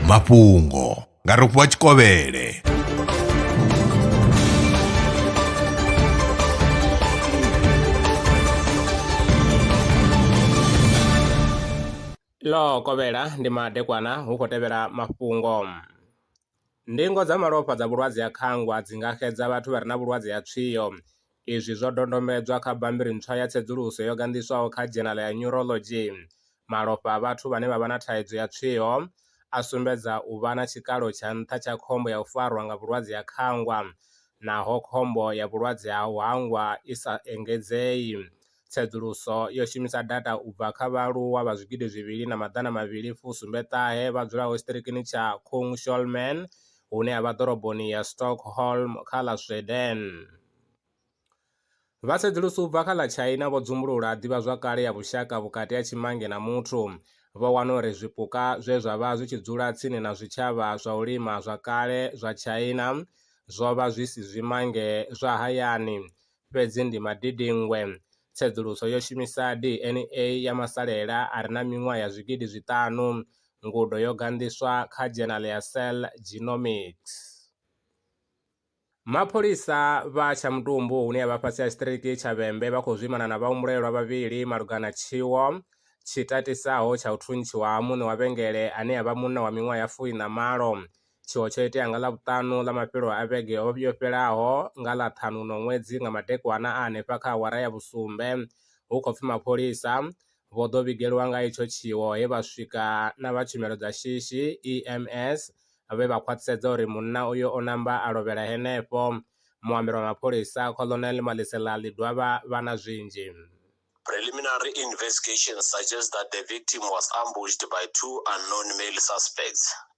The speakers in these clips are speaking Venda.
mafhungo nga rofhiwa tshikovhele ḽo kovhela ndi madekwana hu khou tevhela mafhungo Ndingo dza malofha dza vhulwadze ha khangwa dzi nga xedza vhathu vha re na vhulwadze ha tswio. Izwi zwo dodombedzwa kha bammbiri ntswa ya tsedzuluso yo ganḓiswaho kha Dzhenala ya Neurology. Malofha a vhathu vhane vha vha na thaidzo ya tswio a sumbedza u vha na tshikalo tsha nṱha tsha khombo ya u farwa nga vhulwadze ha khangwa, naho khombo ya vhulwadze ha u hangwa i sa engedzei. Tsedzuluso yo shumisa data u bva kha vhaaluwa vha zwigidi zwivhili na maḓana mavhili fu sumbe ṱahe vha dzulaho tshiṱirikini tsha Kungsholmen hune ha vha ḓoroboni ya Stockholm kha ḽa Sweden. Vha tsedzuluso u bva kha ḽa China vho dzumbulula ḓivhazwakale ya vhushaka vhukati ha tshimange na muthu. Vho wana uri zwipuka zwe zwa vha zwi tshi dzula tsini na zwitshavha zwa u lima zwa kale zwa China zwo vha zwi si zwimange zwa hayani. fhedzi ndi madidingwe. Tsedzuluso yo shumisa DNA ya masalela a re na miṅwaha ya zwigidi zwiṱanu. Ngudo yo ganḓiswa kha dzhenala ya Cell Genomics. Mapholisa vha tsha Mutumbu hune ya vha fhasi ha tshiṱiriki tsha Vhembe vha khou zwimana na vhahumbulelwa vhavhili malugana na tshiwo tshi tatisaho tsha u thuntshiwa ha muṋe wa vhengele ane a vha munna wa miṅwaha ya fumi na malo. Tshiwo tsho itea nga Ḽavhuṱanu ḽa mafhelo a vhege yo fhelaho nga ḽa ṱhanu no ṅwedzi nga madekwana a henefha kha awara ya vhusumbe. Hu khou pfi mapholisa vho ḓo vhigelwa nga itsho tshiwo he vha swika na vha tshumelo dza shishi, EMS, vhe vha khwaṱhisedza uri munna uyo o namba a lovhela henefho. Muambeli wa mapholisa, Colonel Maliselali Dwaba vha na zwinzhi. Preliminary investigations suggest that the victim was ambushed by two unknown male suspects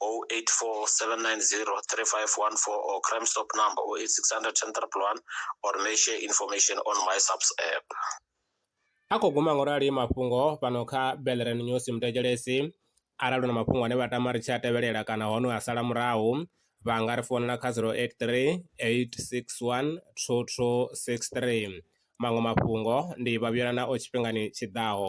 084 790 3514 or Crime Stop number 08600 10001 or may share information on my subs app. a khou guma ngorali mafhungo fhano kha belren news mutekelesi arali hu na mafhungo ane vha tama ri tshi a tevhelela kana hone a sala murahu vha nga ri founela kha 083 861 2263 maṅwe mafhungo ndi vhavhuyelana o tshifhingani tshiḓaho